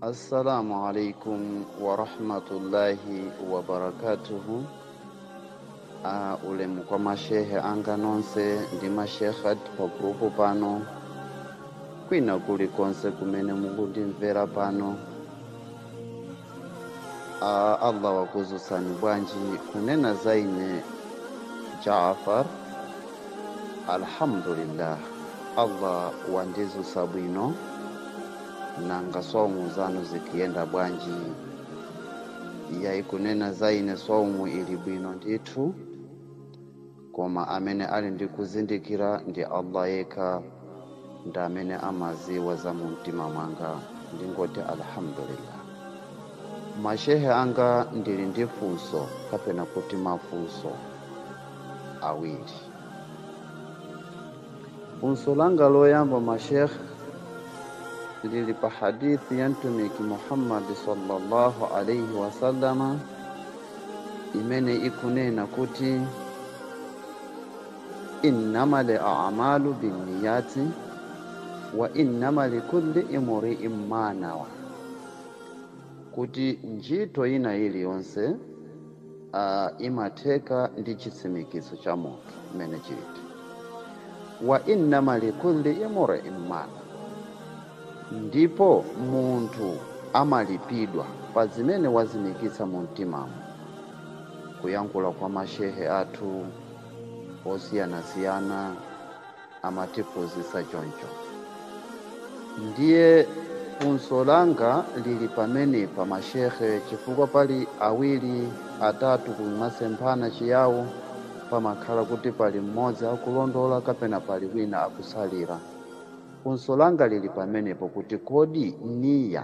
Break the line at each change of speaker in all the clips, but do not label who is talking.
Assalamu alaikum warahmatullahi wabarakatuhu. Uh, ulemu kwa mashehe anga nonse ndi mashekhat pa grupu pano kwina kulikonse kumene mukundimvera pano Ah, Allah wakudzutsani bwanji kunena za ine Jaafar alhamdulillah Allah wandidzutsa bwino nanga swaumu zanu zikuyenda bwanji yayi kunena za ine swaumu ili bwino ndithu koma amene ali ndi kuzindikira ndi Allah yekha ndi amene amadziwa za mu mtima mwanga ndingoti alhamdulillah mashehe anga ndili ndi funso kapena kuti mafunso awiri funso langa loyamba mashehe lili pa hadithi ya mtumiki muhammadi sallallahu alaihi wasallama imene ikunena kuti innama li amalu binniyati wa innama likulli imri'in ma nawa kuti ntchito ina iliyonse uh, imatheka ndi chitsimikizo cha munthu mmene chiliri wa innama likulli imri'in ma ndipo munthu amalipidwa pa zimene watsimikiza mu mtimamu kuyankhula kwa mashehe athu osiyanasiyana amatiphunzitsa choncho ndiye funso langa lili pamenepa mashehe chifukwa pali awiri atatu kumasemphana Chiyawo pamakhala kuti pali mmodzi akulondola kapena pali wina akutsalira funso langa lili pamenepo kuti kodi niya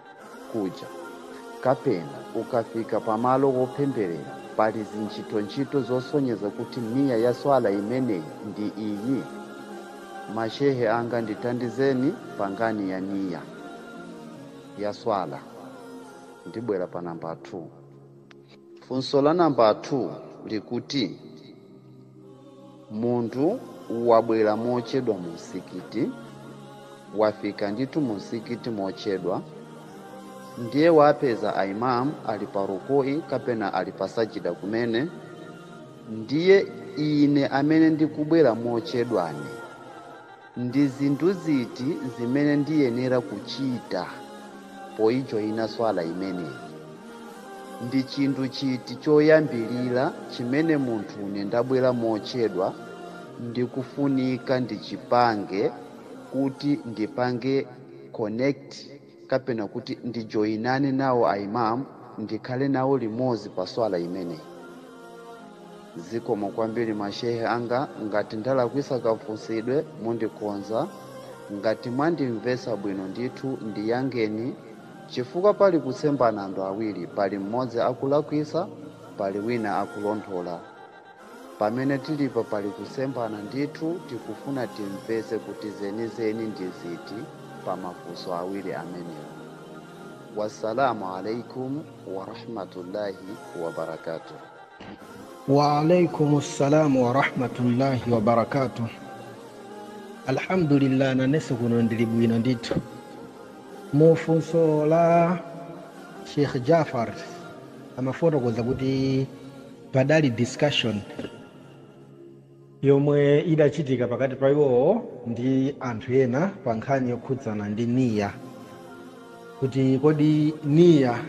kuja, kapena ukafika pa malo opempherera pali zintchito-ntchito zosonyeza kuti niya ya swala imeneyi ndi iyi? Mashehe anga ndithandizeni pa nkhani ya niya ya swala. Ndibwera pa namba 2. Funso la namba 2 likuti, Munthu wabwera mochedwa mumzikiti, wafika ndithu mumzikiti mochedwa, ndiye wapeza a Imam ali pa rukui kapena ali pa sajida kumene, ndiye ine amene ndikubwera mochedwane Ndi zinthu ziti zimene ndiyenera kuchita poijoina Swala imeneyi? Ndi chinthu chiti choyambilira chimene munthune ndabwera mochedwa ndikufunika ndichipange kuti ndipange connect kapena kuti ndijoinane nawo a Imam ndikhale nawo limodzi pa swala imeneyi. Zikomo kwambiri ma Sheikh anga, ngati ndalakwitsa kafunsidwe mundikonza, ngati mwandimvetsa bwino ndithu ndiyankheni chifukwa pali kusemphana anthu awiri, pali mmodzi akulakwitsa pali wina akulondola. pamene tilipo pali kusemphana ndithu tikufuna timvetse kuti zenizeni ndi ziti pa mafunso awiri amenewa wassalamu alaikum warahmatullahi wabarakatuh
waalaikum ssalamu warahmatullahi wabarakatuh alhamdulillah nanenso kuno ndili bwino ndithu mufunso la sheikh jafar amafotokoza kuti Padali discussion yomwe idachitika pakati pa iwowo ndi anthu ena pa nkhani yokhudzana ndi niyyah kuti kodi niyyah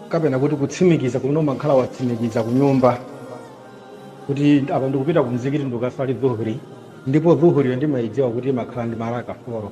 kapena kuti kutsimikiza kumene umakhala watsimikiza ku nyumba kuti apa ndikupita ku mzikiti ndikukaswali dhuhuri ndipo dhuhuriyo ndimaidziwa kuti imakhala ndi maraka foro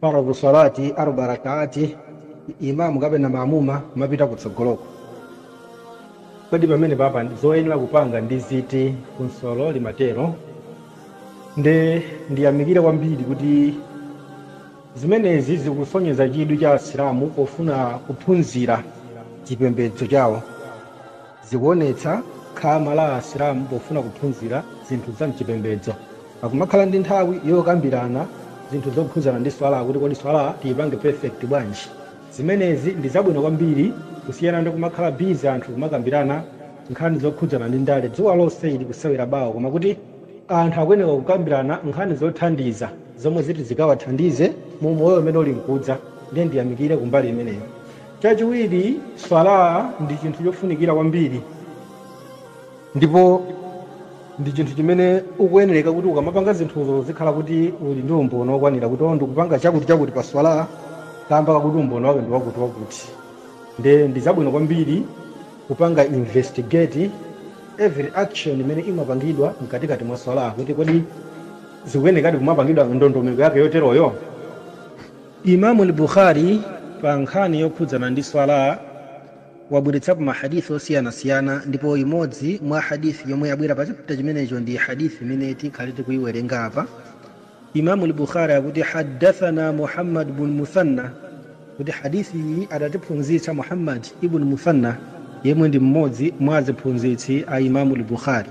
faradhu salati arba rakaati imamu kapena mamuma kumapita kutsogoloko kodi pamene papa zoyenera kupanga ndi ziti funsolo limatero nde ndiyamikire kwambiri kuti zimenezi zikusonyeza chidwi cha asilamu pofuna kuphunzira chipembedzo chawo Zikuonetsa khama la Asilamu pofuna kuphunzira zinthu za m'chipembedzo. Akumakhala ndi nthawi yokambirana zinthu zokhudzana ndi Swalah, kuti kodi Swalah tiipange perfect bwanji? Zimenezi ndi zabwino kwambiri kusiyana ndi kumakhala busy anthu kumakambirana nkhani zokhudzana ndi ndale. Dzuwa lonse ili kusewera bawo, koma kuti anthu akuyenera kukambirana nkhani zothandiza zomwe ziti zikawathandize mu umoyo umene uli nkudza. Ndiye ndiyamikire kumbali imeneyo. Chachiwiri, Swalah ndi chinthu chofunikira kwambiri ndipo ndi chinthu chimene ukuyenereka kuti ukamapanga zinthuzo uzikhala kuti uli ndi umboni wokwanira kuti oh ndikupanga chakuti chakuti pa Swalah kamba kakuti umboni wake ndi wakuti wakuti. Nde ndi zabwino kwambiri kupanga investigate every action imene imapangidwa mkatikati mwa Swalah kuti kodi zikuyenerekadi kumapangidwa ndondomeko yake yoteroyo? Imam Al Bukhari pa nkhani yokhudzana ndi Swalah wabweretsapo ma Hadith osiyanasiyana ndipo imodzi mwa Hadith yomwe yabwera pa chapter chimenecho ndi Hadith imene tikhale tikuiwerenga apa. Imam Al Bukhari akuti haddathana Muhammad bin Muthanna kuti Hadith iyi adatiphunzitsa Muhammad ibn Muthanna yemwe ndi mmodzi mwa aziphunzitsi a Imam Al Bukhari.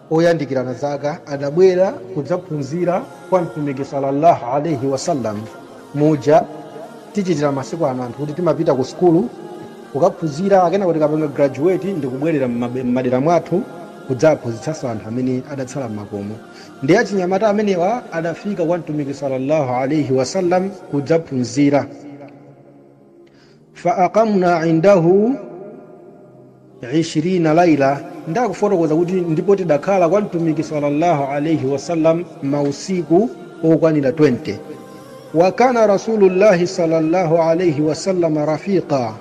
oyandikirana zaka adabwera kudzaphunzira kwa mtumiki sallallahu alaihi wasallam muja tichitira masiku ano anthu kuti timapita ku sukulu kukaphunzira akenako tikapanga graduate ndikubwerera m'madera mwathu kudzaphunzitsanso anthu amene adatsala m'makomo ndi achinyamata amenewa adafika kwa mtumiki sallallahu alaihi wasallam kudzaphunzira Fa aqamna indahu ishirina laila, ndakufotokoza kuti ndipo tidakhala kwa Mtumiki sallallahu alaihi wasallam mausiku okwanira 20. Wa kana Rasulullahi sallallahu alaihi wasallam rafiqa,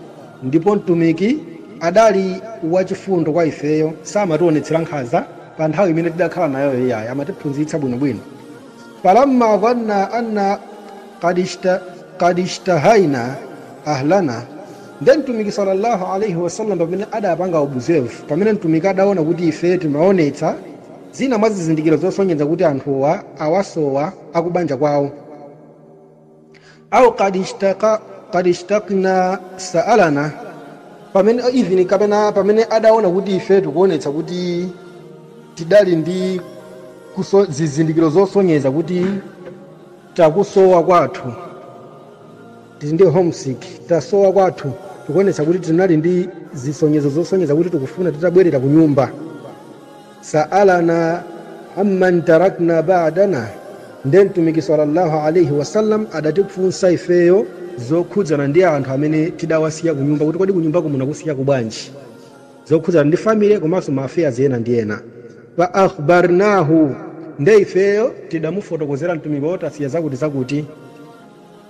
ndipo Mtumiki adali wachifundo kwa ifeyo, samationetsera nkhanza pa nthawi imene tidakhala nayo iyayi, amatiphunzitsa bwinobwino. Falamma dhanna anna qad ishtahaina ahlana, ndiye Mtumiki salla Allah alaih wasallam pamene adapanga observe, pamene Mtumiki adaona kuti ife timaonetsa zina mwa zizindikiro zosonyeza kuti anthuwa awasowa akubanja kwawo, au qad ishtaqna sa'alana pamene even kapena pamene adaona kuti ife tikuonetsa kuti tidali ndi zizindikiro zosonyeza kuti takusowa kwathu tili ndi homesick tasowa kwathu tikuonetsa kuti tinali ndi zisonyezo zosonyeza kuti tikufuna titabwerera ku nyumba Sa'alanaa amman taraknaa ba'danaa, ndiye Mtumiki salla Allah alaih wasallam adatifunsa ifeyo zokhudzana ndi anthu amene tidawasiya kunyumba kuti kodi kunyumbaku munakusiya kubwanji, zokhudzana ndi family komanso ma affairs ena ndi ena. Fa akhbarnahu, ndiye ifeyo tidamufotokozera Mtumiki kuti tasiya zakuti zakuti.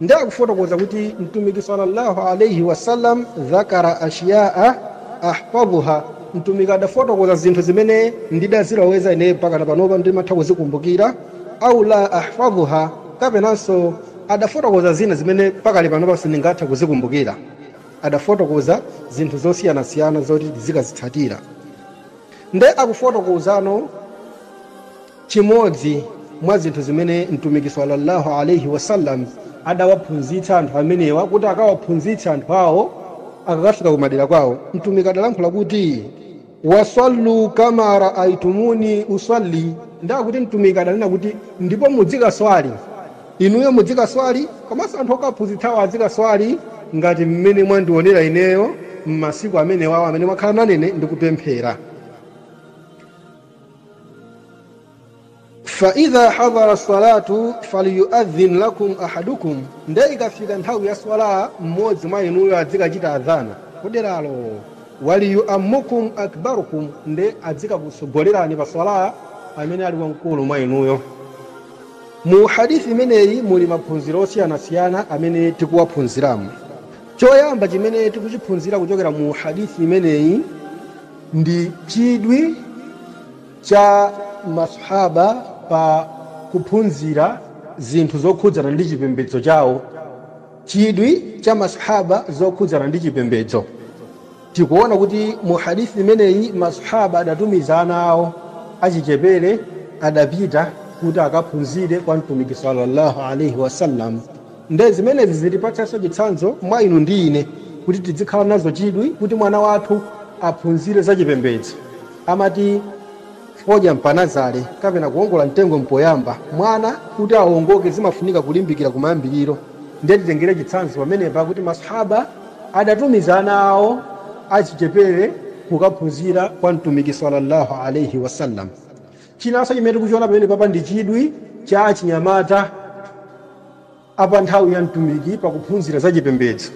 Nde akufotokoza kuti Mtumiki salla Allah alaih wasallam dzakara ashyaa ahfadhuha, Mtumiki adafotokoza zinthu zimene ndidaziloweza ine mpakana panopa ndimatha kuzikumbukira, aw la ahfadhuha, kapenanso adafotokoza zina zimene pakali panopa sindingathe kuzikumbukira. Adafotokoza zinthu zosiyanasiyana zoti tizikazitsatira. Nde akufotokozano. Chimodzi mwa zinthu zimene Mtumiki salla Allah alaih wasallam adawaphunzitsa anthu amenewa kuti akawaphunzitse anthu awo akakafika kumadera kwawo, Mtumiki adalankhula kuti, Wa sallu kama raaitumuni usalli, ndiye kuti Mtumiki adanena kuti, ndipo mudzikaswali, inuyo mudzikaswali komanso anthu okawaphunzitsawo adzikaswali ngati mmene mwandionera ineyo mmasiku amenewawo amene mwakhala nane ine ndikupemphera. faidha hadharati salatu falyuadhin lakum ahadukum nde ikafika nthawi ya swala mmodzi mwa inuyo adzikachita adhana kuderalo waliyuammukum akbarukum nde adzikakutsogolerani pa swala amene ali wamkulu mwa inuyo mu hadithi imeneyi muli maphunziro osiyanasiyana amene tikuwaphunziramo choyamba chimene tikuchiphunzira kuchokera mu hadithi imeneyi ndi chidwi cha ma Swahaabah pa kuphunzira zinthu zokhudzana ndi chipembedzo chawo, chidwi cha ma Swahaabah zokhudzana ndi chipembedzo, tikuona kuti mu hadith imeneyi ma Swahaabah adatumiza ana awo achichepere adapita kuti akaphunzire kwa Mtumiki salla Allah alaih wasallam. Nde zimenezi zitipatsanso chitsanzo mwa inu ndi ine kuti tidzikhala nazo chidwi kuti mwana wathu aphunzire za chipembedzo. Amati fodya mpanazale kapena kuongola mtengo mpoyamba. Mwana kuti aongoke zimafunika kulimbikira kumayambiriro. Nde titengere chitsanzo pamenepa kuti Maswahaaba adatumiza ana awo achichepere kukaphunzira kwa Mtumiki salla Allah alaih wasallam. Chinanso chimene tikuchiona pamenepapa ndi chidwi cha achinyamata a pa nthawi ya mtumiki pa kuphunzira za chipembedzo,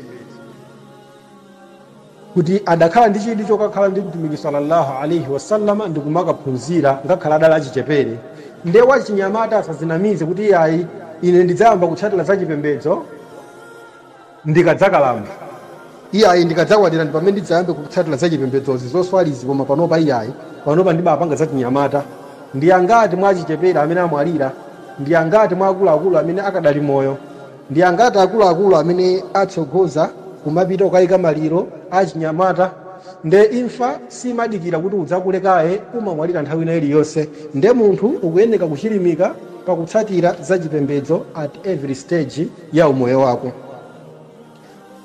kuti adakhala ndi chidwi chokakhala ndi Mtumiki salla Allah alaih wasallam ndi kumakaphunzira ngakhale adali achichepere. Nde wachinyamata asadzinamize kuti iyayi ine ndidzayamba kutsatira za chipembedzo. ndikadzakalamba. Iyayi, ndikadzakwatira ndipamene ndidzayambe kutsatira zachipembedzozi, zoswalizi koma panopa iyayi, panopa ndibapanga zachinyamata. Ndi angati mwa achichepere amene amwalira? Ndi angati mwa akuluakulu amene akadali moyo? Ndi angati akuluakulu amene atsogoza kumapita kukayika maliro a achinyamata? Nde imfa simadikira kuti udzakule kaye, umamwalira nthawi ina iliyonse. Nde munthu ukuyeneka kuchilimika pakutsatira zachipembedzo at every stage. ya umoyo wako.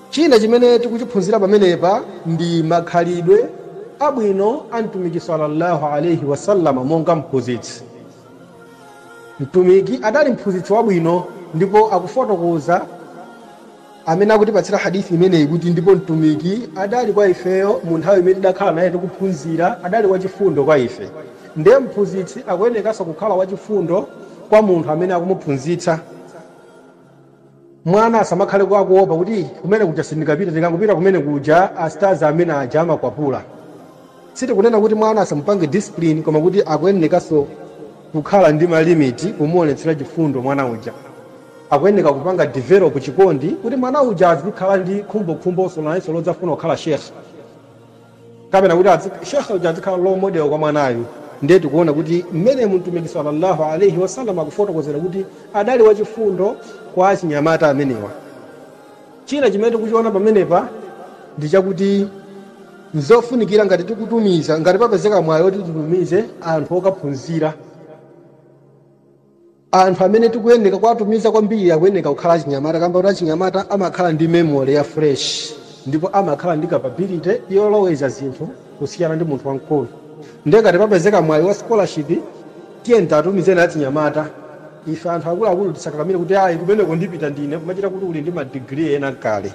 China chimene tikuchiphunzira pamenepa ndi makhalidwe abwino a Mtumiki sallallahu alaihi wasallam monga mphunzitsi. Mtumiki adali mphunzitsi wabwino ndipo akufotokoza amene akutipatsira hadith imeneyi kuti ndipo Mtumiki adali kwa ifeyo mu nthawi imene tidakhala naye tikuphunzira adali wachifundo kwa ife. Ndiye mphunzitsi akuyenekanso kukhala wachifundo kwa munthu amene akumuphunzitsa. mwana asamakhale kwa kuopa kuti kumene kuja sindikapita tikangopita kumene kuja astazi amene aja amakwapula sitikunena kuti mwana asamupange discipline koma kuti akuyenekanso kukhala ndi malimiti kumuonetsera chifundo mwana uja akuyeneka kupanga develop chikondi kuti mwana uja azikhala ndi khumbokhumboso nayenso lodzafuna kukhala sheikh kapena kuti shekhe uja adzikhala role model kwa mwanayu ndiye tikuona kuti mmene mtumiki sallallahu alaihi wasallam akufotokozera kuti adali wachifundo kwa achinyamata amenewa china chimene tikuchiona pamenepa ndi chakuti nzofunikira ngati tikutumiza ngati papezeka mwayi oti titumize anthu okaphunzira Anthu amene tikuyeneka kuwatumiza kwambiri akuyeneka kukhala achinyamata kamba koti achinyamata amakhala ndi memory ya fresh ndipo amakhala ndi capability yoloweza zinthu kusiyana ndi munthu wamkulu ndiye ngati papezeka mwayi wa scholarship tiyeni tiatumizeni achinyamata ife anthu akuluakulu tisakakamire kuti ayi kumeneko ndipita ndine kumachita kuti uli ndi ma degree ena kale.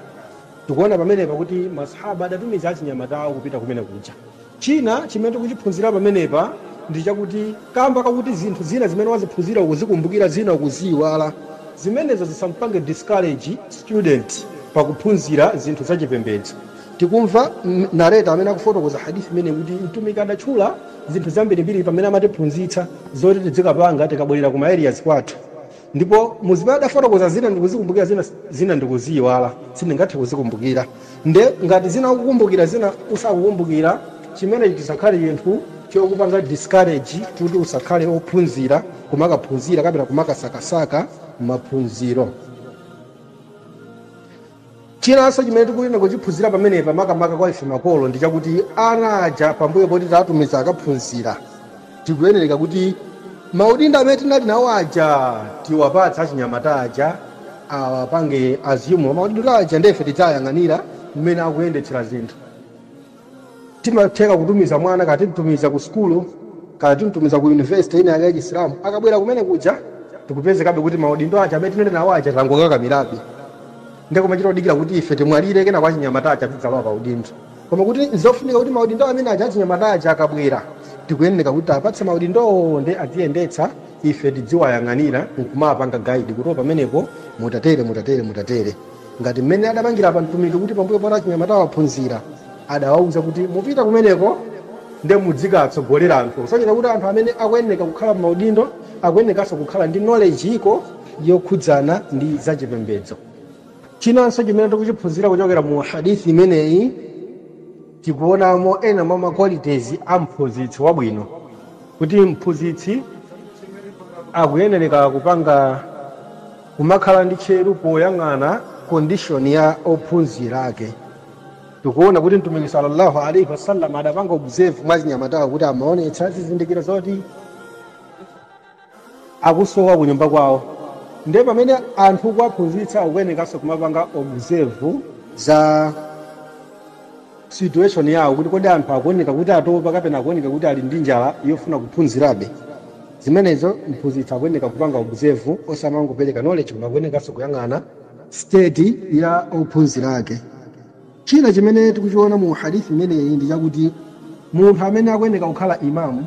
Tikuona pamenepa kuti ma Sahaba adatumiza achinyamata awo kupita kumene kuja. China chimene tikuchiphunzira pamenepa ndi chakuti kamba kakuti zinthu zina zimene waziphunzira ukuzikumbukira zina ukuziyiwala, zimenezo zisamupange discourage student pa kuphunzira zinthu za chipembedzo. Tikumva narrator amene akufotokoza Hadith imeneyi kuti Mtumiki adatchula zinthu zambirimbiri pamene amatiphunzitsa zoti tidzikapanga tikabwerera ku ma areas kwathu. Ndipo mu zimene adafotokoza zina ndikuzikumbukira zina ndikuziyiwala, sindingathe kuzikumbukira. Nde ngati zina ukukumbukira zina usakukumbukira chimenechi chisakhale chinthu chokupanga discourage kuti usakhale ophunzira kumakaphunzira kapena kumakasakasaka maphunziro. Chinanso chimene tikuyenera kuchiphunzira pamenepa, makamaka kwa ife makolo, ndi chakuti ana aja pambuyo poti tawatumiza akaphunzira, tikuyenereka kuti maudindo amene tinali nawo aja tiwapatse achinyamata aja, awapange assume maudindo aja ndiye ife tidzawayang'anira mmene akuyendetsera zinthu. Timatheka kutumiza mwana, kaya timtumiza ku sukulu, kaya timtumiza ku university ina ya Chisilamu, akabwera kumene kuja ndikupezekabe kuti maudindo aja amene tinali nawo aja tangokakamirabe, ndiye kumachita kudikira kuti ife timwalire kenako achinyamata aja adzidzalowa pa udindo. Koma kuti nzofunika kuti maudindo amene aja achinyamata aja akabwera tikuyeneka kuti tiwapatse maudindowo ndiye adziyendetsa ife tidziwayang'anira nkumapanga guide kuti o pamenepo mutatere, mutatere, mutatere. ngati mmene adapangira Mtumiki kuti pambuyo poti achinyamatawa aphunzira adawauza kuti mupita kumeneko nde mudzikatsogolera anthu kusonyeza kuti anthu amene akuyeneka kukhala m'maudindo akuyenekanso kukhala ndi knowledge iko yokhudzana ndi zachipembedzo chinanso chimene tikuchiphunzira kuchokera mu hadith imeneyi tikuonamo ena mwa maqualities a mphunzitsi wabwino kuti mphunzitsi akuyenereka kupanga Kumakhala ndi tcheru poyang'ana condition ya ophunzira ake. Tikuona kuti Mtumiki salla Allah alaih wasallam adapanga observe mwa achinyamatawo kuti amaonetsa zizindikiro zoti akusowa kunyumba kwawo. Nde pamene anthu ukuwaphunzitsa akuyenekanso kumapanga observe za. situation yawo kuti kodi anthu akuoneka kuti atopa kapena akuoneka kuti ali ndi njala yofuna kuphunzirabe. Zimenezo mphunzitsi akuyeneka kupanga observe osamangopereka knowledge koma akuyenekanso kuyang'ana state ya ophunzira ake. China chimene tikuchiona mu Hadith imeneyi ndi chakuti munthu amene akuyeneka kukhala Imaam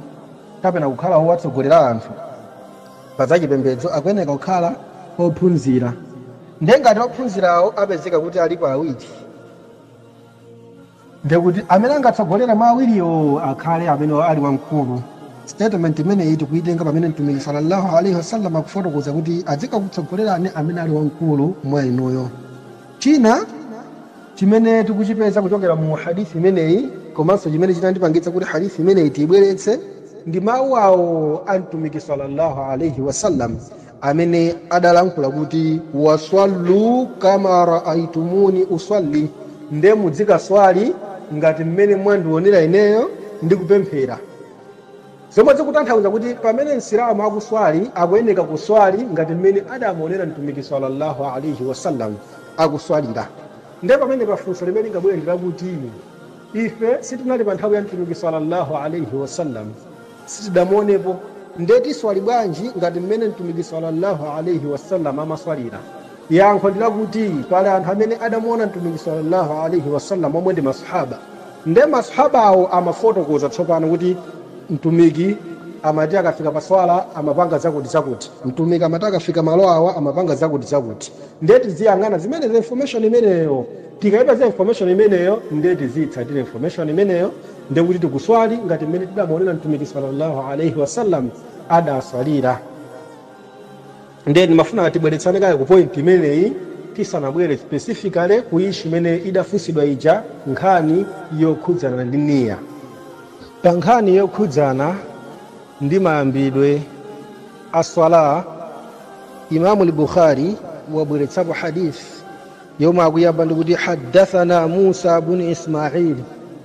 kapena kukhala wowatsogolera anthu pa za chipembedzo akuyeneka kukhala ophunzira. Ndiye ngati ophunzirawo apezeka kuti alipo awiri, ndekuti amene angatsogolere mwa awiriwo akhale amene ali wamkulu statement imeneyi tikuitenga pamene mtumiki sallallahu alaihi wasallam akufotokoza kuti adzikakutsogolerani amene ali wamkulu mwa inuyo china chimene tikuchipeza kuchokera mu hadithi imeneyi komanso chimene chinandipangitsa kuti hadithi imeneyi tiibweretse ndi mawu awo a mtumiki sallallahu alaihi wasallam amene adalankhula kuti waswallu kama raaitumuni uswalli, nde mudzikaswali ngati mmene mwandionera ineyo ndikupemphera, zomwe zikutanthauza kuti pamene Msilamu akuswali akuyeneka kuswali ngati mmene adamuonera Mtumiki salla Allah alaih wasallam akuswalira. Nde pamenepa funso limene lingabwere ndilakuti, ife sitinali pa nthawi ya Mtumiki salla Allah alaih wasallam, sitidamuonepo, nde tiswali bwanji ngati mmene Mtumiki salla Allah alaih wasallam amaswalira? Yankho ndi lakuti pali anthu amene adamuona Mtumiki salla Allah alaih wasallam omwe ndi masahaba, nde masahabawo amafotokoza tsopano kuti Mtumiki amati akafika pa swala amapanga zakuti zakuti, Mtumiki amati akafika malo awa amapanga zakuti zakuti, nde tiziyang'ana zimenezo information imeneyo, tikaipeza information imeneyo nde tiziyitsatira information imeneyo. ndiye kuti tikuswali ngati mmene tidamuonera mtumiki sallallahu alaihi wasallam adaswalira ndiye ndimafuna tibweretsane kaye ku point imeneyi tisanabwere specifically ku issue imene idafunsidwa ija nkhani yokhudzana ndi niya pa nkhani yokhudzana ndi mayambidwe a swala imamu lbukhari wabweretsapo hadith yomwe akuyamba ndikuti haddathana musa bunu ismaili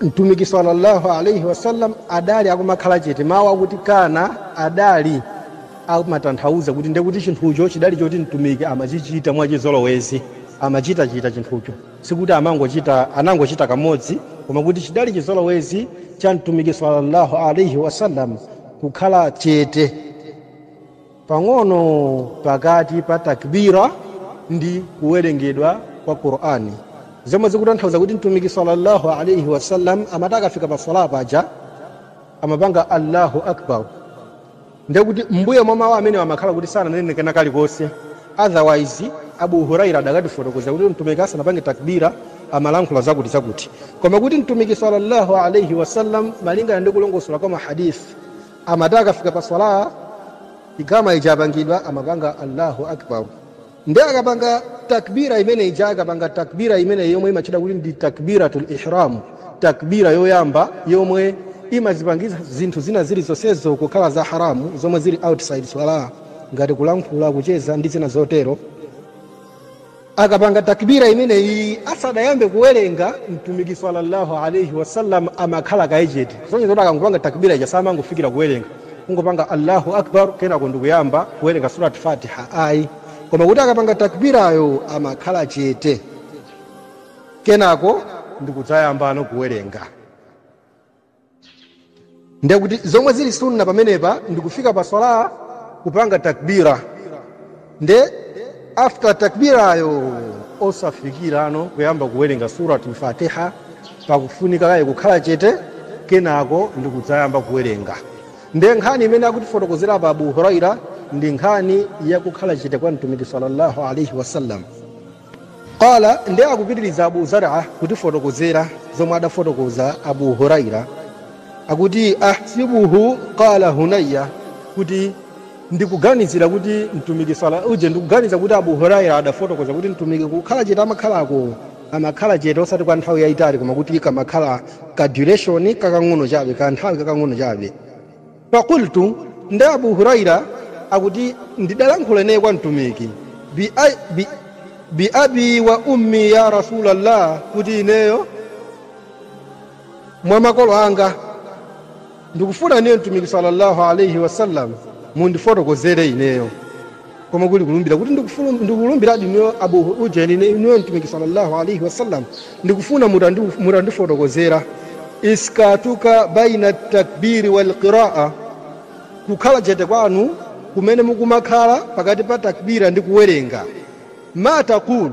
mtumiki sallallahu alaihi wasallam adali akumakhala chete mawu akuti kana adali amatanthauza kuti ndiye kuti chinthucho chidali choti mtumiki amachichita mwachizolowezi amachitachita chinthucho sikuti anangochita kamodzi koma kuti chidali chizolowezi cha mtumiki sallallahu alaihi wasallam kukhala chete pang'ono pakati pa takbira ndi kuwerengedwa kwa qur'ani zomwe zikutanthauza kuti mtumiki sallallahu alaihi wasallam amati akafika pa sala paja amapanga allahu akbar ndekuti mbuyo mwa mawu amenewa amakhala kuti sananene kena kalikonse otherwise abu huraira adakatifotokozera kuti mtumiki asanapange takbira amalankhula zakuti zakuti koma kuti mtumiki sallallahu alaihi wasallam malingana ndi kulongosola kwa mahadisi amati akafika pa swala ikama ija yapangidwa amapanga allahu akbar nde akapanga takbira imene ija akapanga takbira imeneyi yomwe imatchedwa kuti ndi takbiratul ihram takbira yoyamba yomwe imazipangisa zinthu zina zili zonsezo kukhala za haramu zomwe zili outside swala ngati kulankhula kucheza ndi zina zotero akapanga takbira imeneyi asadayambe kuwerenga mtumiki sallallahu alaihi wasallam amakhala kaye chete kusonyeza kuti akangopanga takbira ija samangofikira kuwerenga kungopanga allahu akbar kenako ndikuyamba kuwerenga surat fatiha ayi koma kuti akapanga takbirayo amakhala chete kenako ndikudzayambano kuwerenga ndiye kuti zomwe zili sunna pamenepa ndikufika pa swala kupanga takbira nde after takbirayo osafikirano kuyamba kuwerenga suratul fatiha pakufunika kaye kukhala chete kenako ndikudzayamba kuwerenga nde nkhani imene akutifotokozera pa abu huraira ndi nkhani yakukhala chete kwa mtumiki sallallahu alaihi wasallam qala nde akupitiriza abu zara kutifotokozera zomwe adafotokoza abu huraira akuti ahsibuhu qala hunayya kuti ndikuganizira kuti mtumiki sala uje ndikuganiza kuti abu huraira adafotokoza kuti mtumiki kukhala chete amakhalako amakhala chete osati kwa nthawi yayitali koma kuti kamakhala ka duration kakang'ono chabe ka nthawi kakang'ono chabe faqultu nde abu huraira akuti ndidalankhula ineyo kwa mtumiki bi abi wa ummi ya rasulallah kuti ineyo mwa makolo anga ndikufuna ineyo mtumiki sallallahu alaihi wasallam mundifotokozere ineyo koma kuli kulumbira kuti ndikulumbiradi inuyo abu ujeni inuyo mtumiki sallallahu alaihi wasallam ndikufuna mutandifotokozera iskatuka baina takbiri walqiraa kukhala chete kwanu kumene mukumakhala pakati pa takbira ndi kuwerenga ma taqulu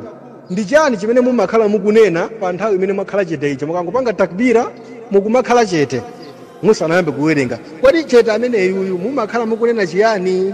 ndi chani chimene mumakhala mukunena pa nthawi imene mwakhala chete icho mukangopanga takbira mukumakhala chete musanayambe kuwerenga kodi chete ameneyuyu mumakhala mukunena chiyani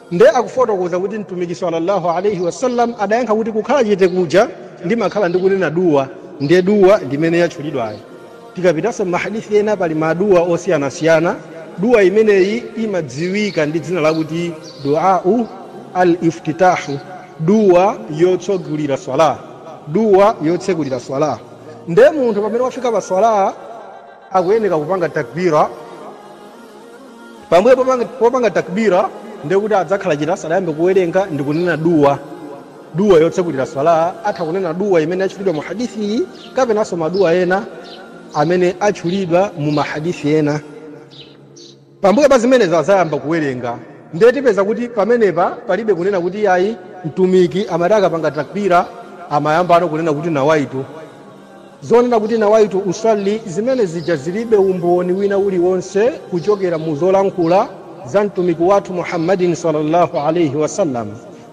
Nde akufotokoza kuti Mtumiki salla Allah alaih wasallam adayankha kuti, Kukhala chete kuja ndimakhala ndikunena dua, nde dua ndi imene yatchulidwayo. Tikapitanso mma Hadith ena pali ma dua osiyanasiyana, dua imeneyi imadziwika ndi dzina lakuti Duau Al iftitah, dua yotsogulira Swalah, dua yotsegulira Swalah. Nde munthu pamene wafika pa Swalah. akuyeneka kupanga takbira pambuyo popanga takbira ndekuti adzakhala chete asadayambe kuwerenga ndi kunena duwa duwa yotsekulira swala atha kunena duwa imene yatchulidwa mu hadithi iyi kapenanso maduwa ena amene atchulidwa mu mahadithi ena Pambuyo pa zimenezo adzayamba kuwerenga. Ndiye tipeza kuti pamenepa palibe kunena kuti iyayi Mtumiki amati akapanga takbira amayambano kunena kuti nawaitu. Zonena kuti nawaitu usalli zimene zija zilibe umboni wina uliwonse kuchokera mu zolankhula za Mtumiki wathu Muhammadin sallallâhu alaihi wa sallam.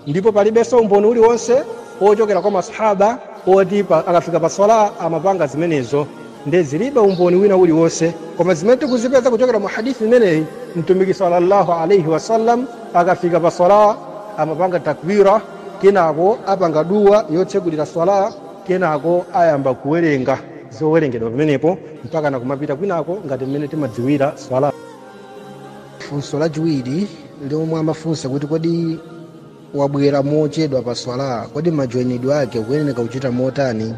Ndipo palibenso umboni uliwonse wochokera kwa Maswahaaba woti akafika pa Swalaah amapanga zimenezo. Nde zilibe umboni wina uliwonse. Koma zimene tikuzipeza kuchokera mu hadith imeneyi, Mtumiki swalla Allahu alayhi wasallam akafika pa Swalaah amapanga takbirah, kenako apanga dua yotsegulira Swalaah, kenako ayamba kuwerenga zowerengedwa pamenepo mpakana kumapita kwinako ngati mmene timadziwira Swalaah.
funso lachiwiri lomwe amafunsa kuti kodi wabwera mochedwa pa swala kodi majoinidwe ake ukuyeneka kuchita motani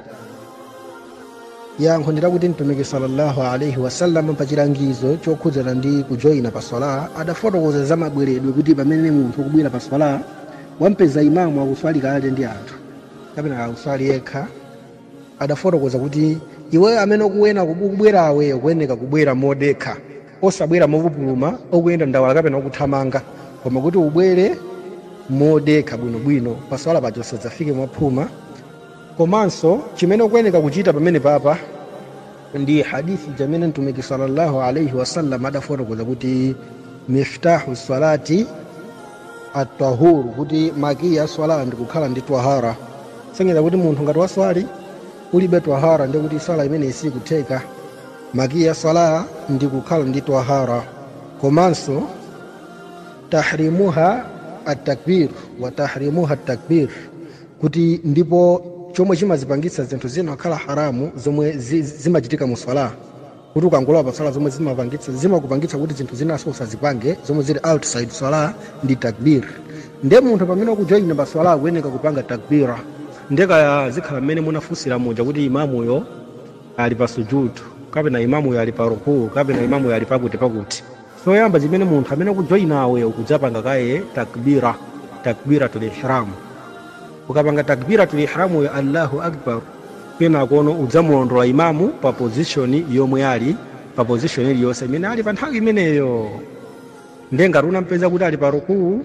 yankho ndilakuti mtumiki sallallahu alaihi wasallam pa chilangizo chokhudzana ndi kujoina pa swala adafotokoza za mabweredwe kuti pamene munthu ukubwera pa swala wampeza imamu akuswali kale ndi anthu kapena akuswali yekha adafotokoza kuti iweyo amene ukubwerawe ukuyeneka kubwera modekha osabwera mopupuluma okuyenda ndawala kapena okuthamanga koma kuti ubwere modekha bwinobwino paswala paja usadzafike mwaphuma komanso chimene ukuyeneka kuchita pamene papa ndi hadithi imene mtumiki sallallahu alaihi wasallam adafotokoza kuti miftahu salati atahuru kuti makiyi aswala ndi kukhala ndi twahara sonyeza kuti munthu ngati waswali ulibe twahara ndikuti swala imeneyi sikutheka Makiyi a Salah ndi kukhala ndi twahara komanso tahrimuha at-takbir wa tahrimuha at-takbir kuti ndipo chomwe chimazipangitsa zinthu zina kukhala haramu zomwe zimachitika mu Salah kuti ukangolowa pa Salah zomwe zimakupangitsa kuti zinthu zinanso usazipange zomwe zili outside Salah ndi takbir nde munthu pamene ukujoyina pa Salah akuyeneka kupanga takbira nde kaya zikhala mmene munafunsira muja kuti imamuyo ali pa sujudu kapena imamuyo ali pa rukuu kapena imamuyo ali pakuti pakuti choyamba chimene munthu amene ukujoyinawe ukudzapanga kaye takbira takbiratul ihram ukapanga takbiratul ihramuyo allahu akbar kenakono udzamulondola imamu pa pozishoni yomwe ali pa pozishoni iliyonse imene ali pa nthawi imeneyo nde ngati unampeza kuti ali pa rukuu